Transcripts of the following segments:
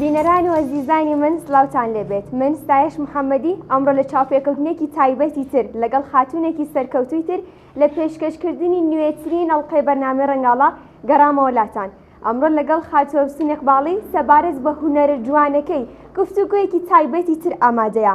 بینەران و ئەزیزانی من سلاوتان لێبێت من ستایش محەمەدی ئەمڕۆ لە چاوپێکەوتنێکی تایبەتی تر لەگەڵ خاتوونێکی سەرکەوتووی تر لە پێشکەشکردنی نوێترین ئەڵقەی بەرنامەی ڕەنگاڵە گەڕامەوە لاتان ئەمڕۆ لەگەڵ خاتوو ئەفسوون ئیقباڵی سەبارەت بە هونەرە جوانەکەی گفتوگۆیەکی تایبەتی تر ئامادەیە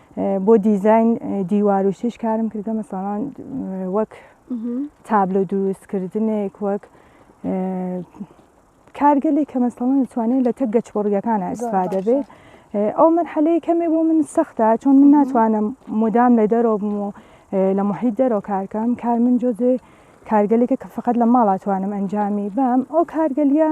بۆ دیزاین دیوار و شیش کارم کردە مەسەڵان وەک تابلۆ دروستکردنێک وەک کارگەلێک کە مەسەڵەن دەتوانێت لە تەک گەچ بڕگەکانە ئەسفا دەبێت ئەو مەرحەلەیە کەمێ بۆ من سەختە چۆن من ناتوانم مدام لە دەرەوە بم و لە محیت دەرەوە کارکەم کار من جۆزێ کارگەلێکە کە فقط لە ماڵاتوانم ئەنجامی بام ئەو کارگەلیە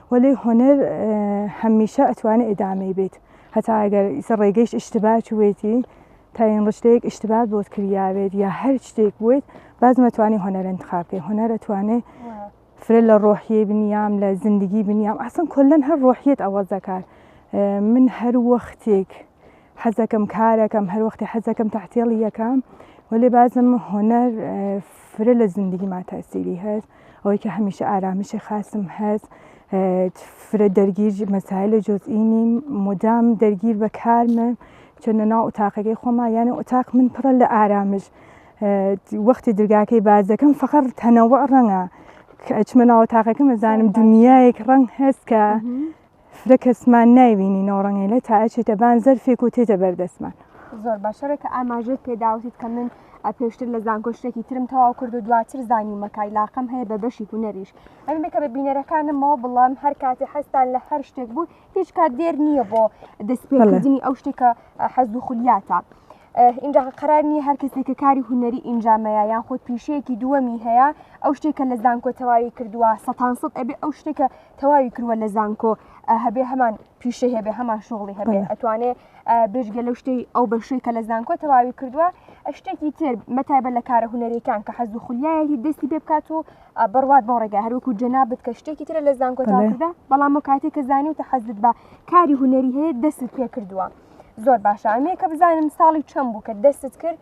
وەلێ هونەر هەمیشە ئەتوانێ ئیدامەی بێت هەتا ئەگەر ئیسە ڕێگەیش ئیشتبا چوێتی تاین ڕشتەیەک ئیشتبا بۆت کریاوێت یا هەر شتێک بوویت باز مەتوانی هونەر انتخاب بکەی هونەر ئەتوانێ فرە لە ڕۆحیە بنیام لە زندگی بنیام ئاسن کلەن هەر ڕۆحیت ئەوە دەکات من هەر وەختێک حەزەکەم کارەکەم هەر وەختی حەزەکەم تحتێڵی یەکەم وەێ بازم هۆنەر فرە لە زندگی ما تاسیری هەست ئەوەی کە هەمیشە ئارامیشی خاستم هەست فرە دەرگیر مەسای لە جۆزئینی مدام دەرگیر بە کارمە چەندە ناو ئوتاقەکەی خۆما یانە ئوتاق من پڕە لە ئارامش وەختی درگاکەی باز دەکەم فقط تەنەوە ڕەنگە ئەچمە ناوە تاقەکە مەزانم دنیایەک ڕەنگ هەست کە فرە کەسمان نایبینی نۆڕەنگەیلە تا ئەچێتە بان زەرفێک و تێتە بەردەستمان زۆر باشەڕێ کە ئاماژێت پێداوتیت کە من پێشتر لە زانکۆشتێکی ترم تەواو کرد و دواتر زانیومەکای لاقم هەیە بە بەشی هوەریش ئەمێ کە بە بینەرەکانمەوە بڵام هەر کاتی حەستان لە هەر شتێک بوو هیچ کات دێر نییە بۆ دەستپێکردنی ئەو شتێکە حەز و خولیاتە. اینجا قرار نییە هەر کەسێک کە کاری هوەری ئینجامەیە یان خۆت پیشەیەکی دووەمی هەیە ئەو شتێکە لە زانکۆ تەواوی کردووە سەان سەد ئەبێ ئەو شتێکە تەواوی کروە لە زانکۆ هەبێ هەمان پیشە هەبێ هەمان شغڵی هەبێ ئەتوانێ بێژگە لەو شتەی ئەو بەشەی کە لە زانکۆ تەواوی کردووە شتێکی تر مەتابە لە کارە هوەرەکان کە حەز و خولیایەکی دەستی پێ بکات و بڕوات بۆ ڕێگە هەروکو جەنا بت کە شتێکی ترە لە زانکۆتادا بەڵام و کاتێک کە زانانی و تە حەزت بە کاری هوەری هەیە دەستت پێ کردووە زۆر باشە ئەمێ کە بزانم ساڵی چەند بوو کە دەستت کرد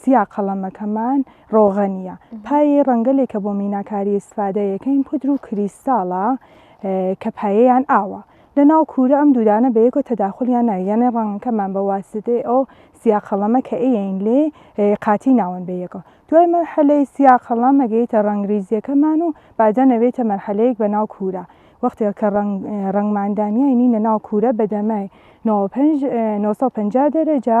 سیا قەڵەمەکەمان ڕۆغە نییە. پایەی ڕەنگەلێکە بۆ میناکاری ئیستفادە یەکەین پودر و کریستاڵە کە پایەیان ئاوە. لە ناو کوورە ئەم دوودانە بە یەکەوە تەداخولیان ناوێ یانێ ڕەنگەکەمان بە واسیتەی ئەو سیا قەڵەمە کە ئەیەین لێ قاتی ناون بە یەکەوە. دوای مەرحەلەی سیا قەڵەم ئەگەیتە ڕەنگ ریزیەکەمان و بادەن ئەوێتە مەرحەلەیەک بە ناو کوورە. وەختێ کە ڕەنگمان دانیاینینە ناو کوورە بە دەمای نۆ سەد و پەنجا دەرەجە،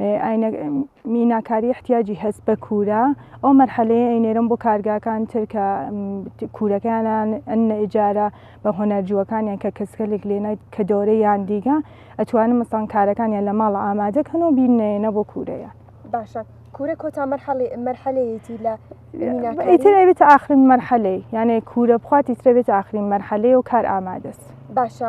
ئاینە میناکاری احتیاجی هەست بە کورە ئەو مەرحەلەیە ئەینێرم بۆ کارگاکان تر کە کورەکانیان ئەن ئجارە بە هۆنەرجووەکانیان کە کەسکەلێک لێنای کە دەورە یان دیگە ئەتوانن مەسان کارەکانیان لە ماڵ ئامادەکەن و بینێنە بۆ کورەیە باشە کورە کۆتا مەرحەڵی مەرحەلەیەتی لە ئیتر ئەوێت ئاخرین مەرحەلەی یانێ کورە بخواتی ترەوێت ئاخرین مەرحەلەیە و کار ئامادەست باشە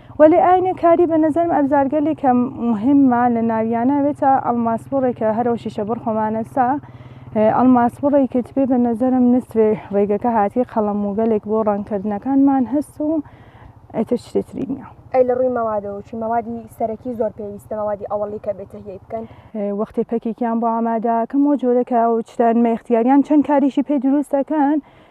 وەلێ ئاینە کاری بە نەزەرم ئەبزارگەلێ کە موهیممە لە ناویانە وێتە ئەڵماسبوڕێ کە هەرەو شیشە بڕ خۆمانەسا ئەڵماسبڕێ کە تبێ بە نەزەرم نسرێ ڕێگەکە هاتی قەڵەم و گەلێک بۆ ڕەنگکردنەکانمان هەست و ئێتر شتێ تری نییە. ئەی لە ڕووی مەوادەوە چی مەوادی سەرەکی زۆر پێویستە مەوادی ئەوەڵی کە بێ تەهیەی بکەن؟ وەختێ پەکێکیان بۆ ئامادە کەم و جۆرەکە و چتە نمە ئیختیاریان چەند کاریشی پێ دروست دەکەن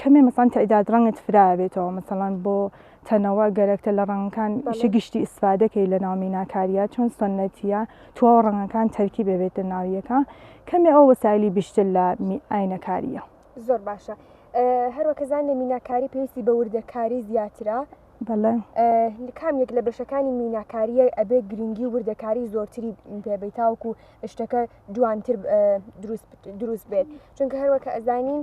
کەمێ مەسەڵەن تەعداد ڕەنگت فرایە بێتەوە مەسەڵەن بۆ تەنەوە گەرەکتە لە ڕەنگەکان ئیشە گشتی ئیسفادەکەی لە ناو میناکاریە چۆن سنەتیە تواوە ڕەنگەکان تەرکی بێبێتە ناویەکە کەمێ ئەو وەسایلی بیشتر لە ئاینەکاریە زۆر باشە هەروەکەزان لە میناکاری پێویستی بە وردەکاری زیاترە کام یەک لە بەشەکانی میناکاریە ئەبێ گرنگی وردەکاری زۆرتری پێبیتاوکو شتەکە جوانتر دروست بێت چونکە هەروەکە ئەزانین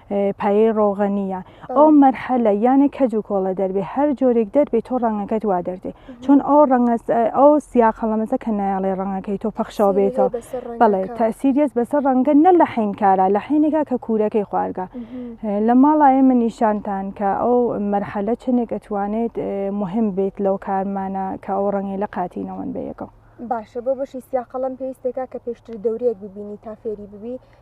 پایەی ڕۆغەنیە ئەو مەرحەلە یانە کەج و کۆڵە دەربێ هەر جۆرێک دەربێت تۆ ڕەنگەکەت وا دەردێ چۆن ئەو ڕەنگە ئەو سیاقەڵەمەزە کە نایڵێ ڕەنگەکەی تۆ پەخشەوە بێتەوە بەڵێ تاسیریەت بەسەر ڕەنگە نە لە حین کارە لە حینێکا کە کوورەکەی خوارگە لە ماڵایە من نیشانتان کە ئەو مەرحەلە چنێک ئەتوانێت مهم بێت لەو کارمانە کە ئەو ڕەنگی لە قاتینەوەن بەیەکەوە باشە بۆ بەشی سیاقەڵم پێویستێکا کە پێشتر دەورەیەک ببینی تا فێری ببی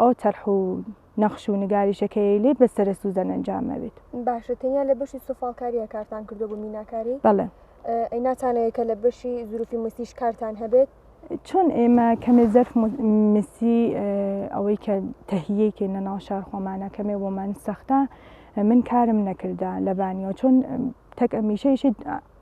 ئەو تەرح و نەخش و نگاریشەکەی لێت بە سەرە سوزەن ئەنجامەوێت باشە تەنیا لە بەشی سوفاڵکاریە کارتان کردو بوو میناکاری بەڵێ ئەی ناتانەیە کە لە بەشی زروفی مسیش کارتان هەبێت چۆن ئێمە کەمێ زەرف مسی ئەوەی کە تەهیەیکە لە ناو شار خۆمانە کەمێ بۆمان سەختە من کارم نەکردە لەبانیەوە چۆن تەک ئەمیشەیشت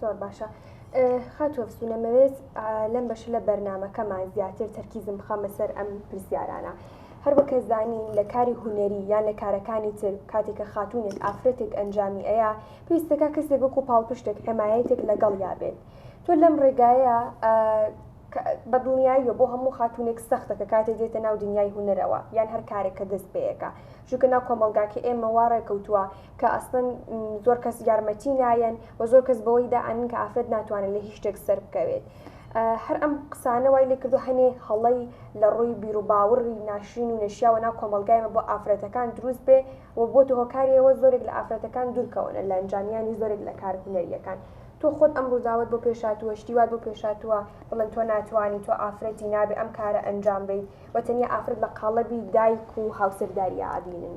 زۆر باشە خاتوە فسونە مەوێت لەم بەش لە بەرنمەکەمان زیاتر تەرکیزم بخەمە سەر ئەم پرسیارانە هەر بەکە زانین لە کاری هوەری یان لە کارەکانی تر کاتێکە خاتونێک ئافرەتێک ئەنجامی ئەیە پێویستەکە کەسێک وەکو پاڵپشتێک حمایەتێک لەگەڵ یابێت تۆ لەم ڕێگایە بە دڵنیاییە بۆ هەموو خاتونێک سەختە کە کاتێ دێتە ناو دنیای هوەرەوە یان هەر کارێکە دەست پێەکە ژوکە ناو کۆمەلگاکە ئێمە واڕێکەوتووە کە ئەسڵەن زۆر کەس یارمەتی نایەن و زۆر کەس بەوەی دا ئەنن کە ئافرەت ناتوانن لە هیچ شتێک سەر بکەوێت هەر ئەم قسانە وای لێکردو هەنێ هەڵی لە ڕووی بیرروباوڕی ناشرین و نەشیاوە ناو کۆمەلگایمە بۆ ئافرەتەکان دروست بێ و بۆ هۆکاریەوە زۆرێک لە ئافرەتەکان دوورکەونە لە ئەنجامیانی زۆرێک لە کار هونەریەکان تۆ خۆت ئەم ڕووداوت بۆ پێشاتووە شتی وات بۆ پێشاتووە بڵێن تۆ ناتوانانی تۆ ئافرەتی نابێ ئەم کارە ئەنجام بیت و تەنیا ئافرەت لە قاڵبی دایک و هاوسەرداریا ئەبینن.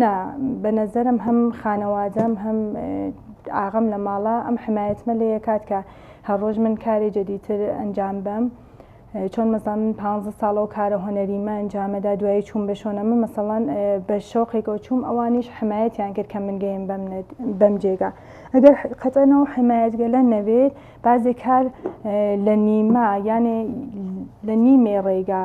نا بەنەزەرم هەم خانەوادەم هەم ئاغەم لە ماڵە ئەم حمایەتمە لێ کات کە هەڕۆژ من کارێ جەدیتر ئەنجام بم چۆن مەزان من پ ساڵە و کارە هۆنەریمە ئەنجامەدا دوای چوون بە شۆنە من مەسەڵەن بە شۆقێکەوە چووم ئەوانیش حمایەتیان کرد کە من گەیم بم بەم جێگا ئەگەر قەتەنەوە حمایەتگەلە نەبێت بازێ کار لە نیمە یانێ لە نیمێ ڕێگا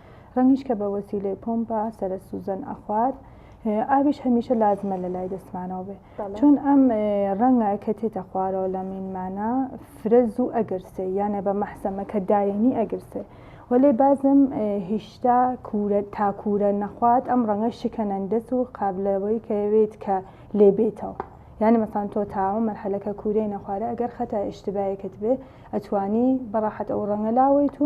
رەنگیش کە بە وەسیلەی پۆمپە سەرە سوزەن ئەخوات ئاویش هەمیشە لازمە لە لای دەستمانەوە بێ چون ئەم ڕەنگە کە تێتە خوارەوە لە مینمانە فرە زوو ئەگرسێ یانە بە مەحسەمە کە داینی ئەگرسێ وەلێ بازم هیشتا کورە تاکورە نەخوات ئەم ڕەنگە شکەنەندەس و قابلەوەی کەوێت کە لێبێتەوە یانە مەسان تۆ تاوە مەرحەلەکە کوورەی نەخوارە ئەگەر خەتا ئشتباەکەت بێ ئەتوانی بەڕاحەت ئەو ڕەنگە لاوەیت و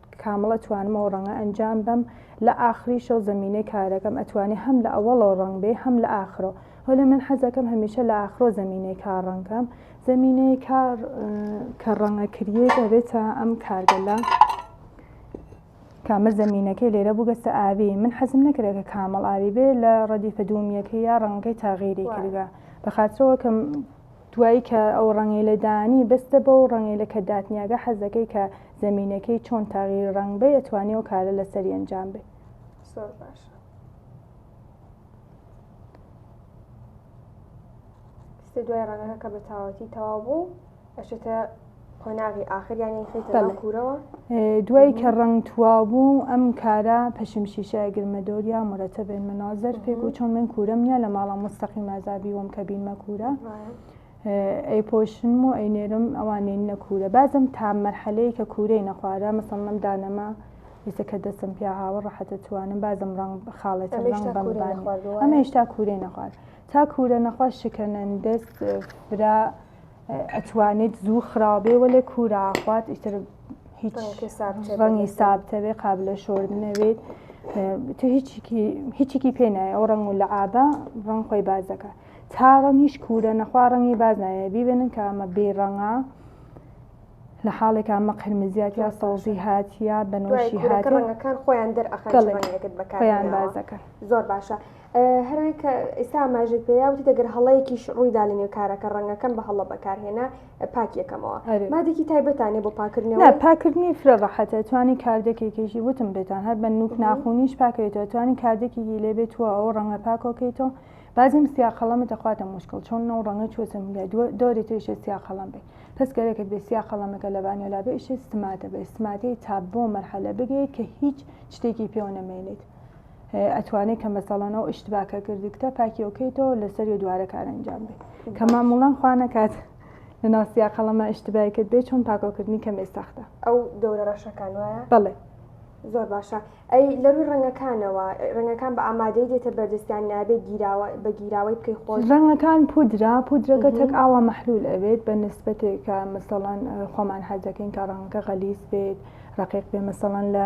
کامڵە توانمەوە ڕەنگە ئەنجام بەم لە ئاخری شەو زەمینەی کارەکەم ئەتوانێ هەم لە ئەوەڵەوە ڕەنگ بێ هەم لە ئاخرۆ هۆلێ من حەزەکەم هەمیشە لە ئاخرۆ زەمینەی کار ڕەنگ کەم زەمینەی کار کە ڕەنگە کریەی دەبێتە ئەم کارگەلە کامە زەمینەکەی لێرە بووگەستە ئاوی من حەزم نەکرێت کە کامەڵ ئاوی بێ لە ڕەدیفە دومیەکە یا ڕەنگەکەی تاغیری کردگە بە خاطرەوە کەم دوایی کە ئەو ڕەنگەیلە دانی بەستە بەو ڕەنگەیلە کە داتنیاگە حەزەکەی کە زەمینەکەی چۆن تەغییر ڕەنگ بەی ئەتوانی ئەو کارە لەسەری ئەنجام بەی. زۆر باشە. دوای ڕەنگەکە کە بە تاوەتی تەواو بوو ئەشێتە قۆناغی ئاخر یان یەیخەیتە ناو بەڵێ. کورەوە؟ دوای کە ڕەنگ تواوبوو ئەم کارە پەشم شیشە ئەگر مە دۆر یا مرەتەبێن مە نازەر فێ گۆ چۆن من کورەم نیا لە ماڵا موستەقیم ئازا بیوەم کە بین مە کورە ڕایە. ئەی پۆشنم و ئەی نێرم ئەوان نێننە کورە بازم تا مەرحەلەی کە کورەی نەخوارە مەسەڵەن ئەم دانەمە ئیسە کە دەسم پیا هاوە ڕەحەتە توانم بازم ڕەنگ خاڵێتم ئەمە ڕەنگ هێشتا بەم کورەی بانێ نەخواردووە ئەمە وایە؟ هێشتا کورەی نەخوارد تا کورە نەخوارد شکەنەن دەست فرە ئەتوانێت زوو خراوبێ وەلێ کورە خوات ئیتر هیچ ڕەنگی سابتەوێ قابلە شۆر نەوێت تۆ هیچیکی پێ نایە ئەو ڕەنگ و لە ئابە ڕەنگ خۆی بازەکە تا ڕەنگیش کورە نەخوا ڕەنگی باز نایە بیبێنن کە ئەمە بێ ڕەنگە لە حاڵێک ئەمە قرمزیات یا سەوزی هاتیە بەنەوەشی هاتەکان خۆیان دەرئەخەڵیان بازەکە زۆر باشە هەروەی کە ئێستا ئاماژەت پێیا وتی دەگەر هەڵەیەکیش ڕوویدا لە نێو کارەکە ڕەنگەکەم بە هەڵە بەکارهێنا پاک یەکەمەوە ئەرێ. مادێکی تایبەتانێ بۆ پاکردنەوە نا پاکردنی فرە ڕەحەتە توانی کاردێکێکیشی وتم پێتان هەر بە نوک ناخونیش پاکەوێتەوە توانی کاردێکێکی لێ بێت تووە ئەو ڕەنگە پاکۆکەیتەوە بازم سیا قەڵەمە دەخواتە مشکڵ چۆن ئەو ڕەنگە چووەتە ملای دووە دۆری تریشە سیا قەڵەم بێ پس گەرەکت بێ سیا قەڵەمەکە لە بانیۆ لا بئیشێ ستماتە بە ئیستماتەی تا بۆ مەرحەلە بگەیت کە هیچ شتێکی پێوە نەمێنێت ئەتوانێ کە مەسەڵەن ئەو ئشتباکە کردکتە پاکیەوەکەیتەوە لەسەری دوارە کار ئەنجام بێ کە ماموڵان خوا نەکات لە ناسیا قەڵەمە ئشتبای کرد بێ چۆن پاکۆکردنی کەمێ سەختە ئەو گەورە ڕەشەکان وایە بڵێ زۆر باشە ئەی لەروی ڕەنگەکانەوە ڕەنگەکان بە ئامادەی دێتە بەردەستیان نابێت گیراوە بە گیراوەی بکەی خۆش ڕەنگەکان پودرا پودرەکە تەک ئاوا محلول ئەوێت بە نسبەتێکە مەسەڵەن خۆمان حەزەکەین کە ڕەنگەکە غەلیز بێت ڕقیق بێ مەسەڵەن لە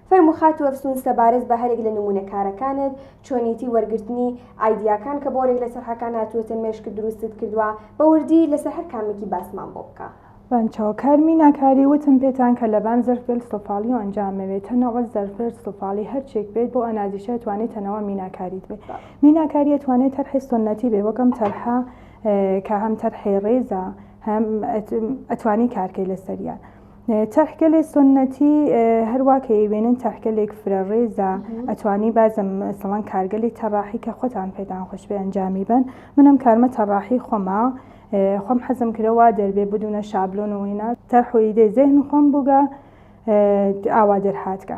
فەرموو خاتوو ئەفسوون سەبارەت بە هەرێک لە نموونە کارەکانت، چۆنیەتی وەرگرتنی ئایدیاکان کە بۆرێک لە سەرحەکان هاتووەتە مێشکت درووستت کردووە، بە وردی لەسەر هەر کامەکی باسمان بۆ بکە. بان چاو کار مینا کاری وتم پێتان کە لە بان زەرف گەل سفالی و ئەنجام مەوێ تە نە وە زەرف ورد سفالی هەر چێک بێت بۆ ئەنازیشە ئەتوانێ تە نە وە مینا کاریت بێ مینا کاری ئەتوانێ تەرحێ سوننەتی بێ وەک ئەم تەرحە کە هەم تەرحێ ڕێزە هەم ئەتوانی کار کەی لە سەریان چەرحگەلێ سوننەتی هەروا کە یەوێنن چەرحگەلێک فرە ڕێزە ئەتوانی بازم سەڵەن کارگەلی تەڕاحی کە خۆتان پێتان خۆشبێ ئەنجامی بن منم کارمە تەڕاحی خۆما خۆم حەزم کرەوە دەربێ بدونە شابلۆن و وینا تەرحۆیدێ زێهن خۆم بووگە ئاوا دەرهاتگە.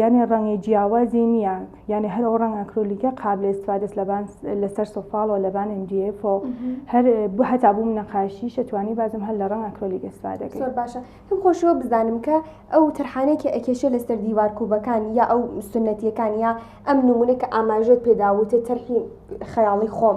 یانێ ڕەنگی جیاوازی نییە یانێ هەر ئەو ڕەنگ ئەکرۆلیکە قابل استفادەس لەبان لەسەر سۆفاڵەوە لەبان MDF و هەر بۆ هەتا بووم نەقاشی شەتوانی بازم هەر لە ڕەنگ ئەکرۆلیک استفادە کرد باشە کەم خۆشەوە بزانم کە ئەو تەرحانێکی ئەکێشە لەسەر دیوار کوبەکان یا ئەو سنەتیەکان یا ئەم نمونە کە ئاماژەت پێداوتە تەرحی خەیاڵی خۆم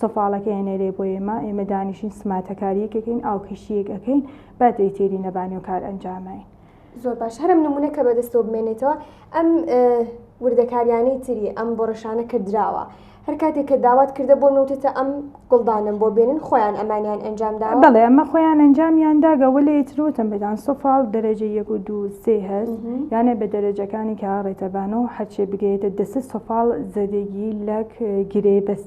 سەفاڵەکەی ئەنێرێ بۆ ئێمە، ئێمە دانیشین سماتەکارییەک ئەکەین، ئاوکەشییەک ئەکەین، با دەی تێری نەبانێ و کارئەنجاماین. زۆر باش، هەر ئەم نموونە کە بەدەستەوە بمێنێتەوە، ئەم وردەکارییانەی تری ئەم بۆڕشانە کە دراوە، هەر کاتێک کە داوات کردە بۆ نەوتێتە ئەم گوڵدانم بۆ بێنن، خۆیان ئەمانیان ئەنجام دا؟ بەڵێ، ئەمە خۆیان ئەنجامیان دا، گەوە لێ تر وتم بێتان سەفاڵ دەرەجە یەک و دوو سێ هەست، یانێ بە دەرەجەکانی کە ڕێتەبان و هەرچێ بگەیێتە دەسە سەفاڵ زەدەگی لەک گرێ بەس.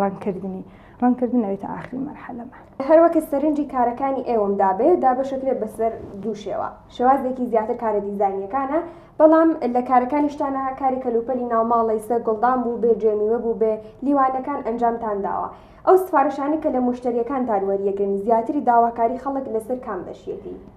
ڕەنگکردنی ڕەنگکردن ئەوێتە ئاخری مەرحەلەمان. هەروەکە سەرنجی کارەکانی ئێوەم دابێ دابەشەکرێت بەسەر دوو شێوە شێوازێکی زیاتر کارە دیزاینیەکانە بەڵام لە کارەکانیشتانە کاری کەلوپەلی ناوماڵی سەر گوڵدان بوو بێ جێمیوە بوو بێ لیوانەکان ئەنجامتان داوە ئەو سفارشانە کە لە موشتەریەکانتان وەریەگرن زیاتری داواکاری خەڵک لەسەر کام بەشیەتی؟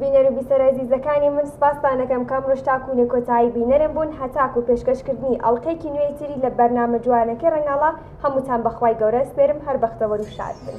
بینەر و بیسەرە زیزەکانی من سپاستانەکەم کەم ڕۆژ تاکوونێ کۆتایی بینەرم بوون هەتاک و پێشکەشکردنی ئەڵلقەیەکی نوێی تری لە بەرنامە جوانەکەی ڕنگاڵە هەمووتان بەخوای گەورە سپێرم هەر بەختەوەر و شاد بن.